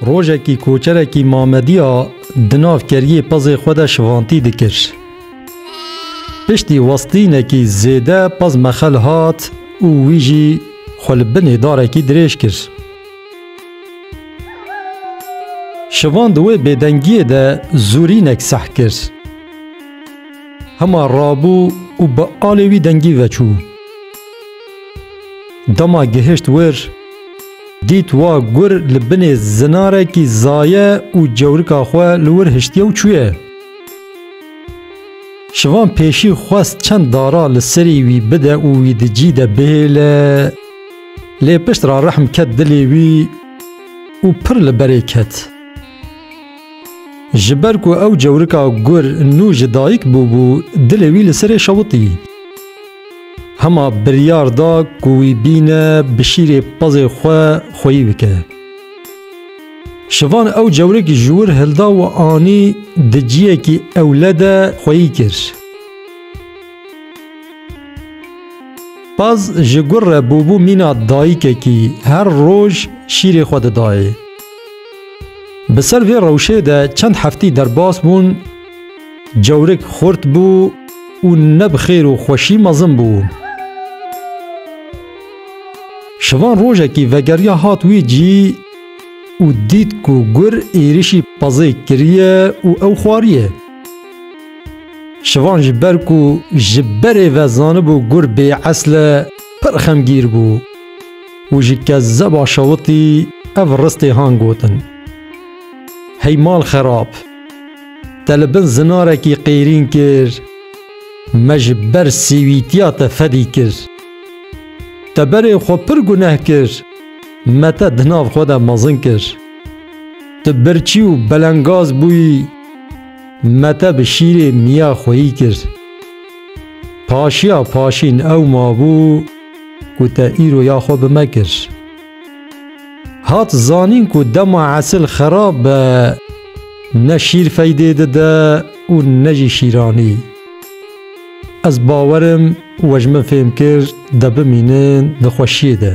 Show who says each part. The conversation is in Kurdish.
Speaker 1: Rojekî koçerekî Mamediya di nav keriyê pezê xwe de şivantî dikir. Piştî westînekî zêde pez mexel hat û wî jî xwe li binê darekî dirêj kir. Şivan di wê bêdengiyê de zûrînek seh kir. Hema rabû û bi alê wî dengî veçû. Dema gihişt wir, dît wa gur li binê zinarekî zaye û cewrika xwe li wir hiştiye û çûye. Şivan pêşî xwest çend dara li serî wî bide û wî di cî de bihêle, lê pişt re rehm ket dilê wî û pir li berê ket. Ji ber ku ew cewrika gur nû ji dayik bûbû, dilê wî li serê şewitî. Hema biryar da ku wî bîne bi şîrê pezê xwe xweyî bike. Şivan ew cewrekî ji wir hilda û anî di ciyekî ewle de xweyî kir. Pez ji gur re bûbû mîna dayikekî, her roj şîrê xwe didayê. Bi ser vê rewşê de çend heftî derbas bûn, Cewrik xurt bû û ne bi xêr û xweşî mezin bû. Şivan rojekî vegeriya hat wî cî û dît ku gur êrişî pezê kiriye û ew xwariye. Şivan ji ber ku ji berê ve zanibû gur bêesl e pir xemgîr bû û ji kezeba şewitî ev ristê han gotin, Hey mal xerab! Te li bin zinarekî qêrîn kir, me ji ber sîwîtiya te fedî kir. Te berên xwe pir guneh kir, me te di nav xwe de mezin kir. Tu birçî û belengaz bûyî, me te bi şîrê miya xweyî kir. Paşiya paşîn ew mabû ku te îro ya xwe bi me kir. Hat zanîn ku dema esil xerab be ne şîr feydê dide û ne jî şîranî. Ez bawer im we ji min fêm kir de bimînin di xweşiyê de.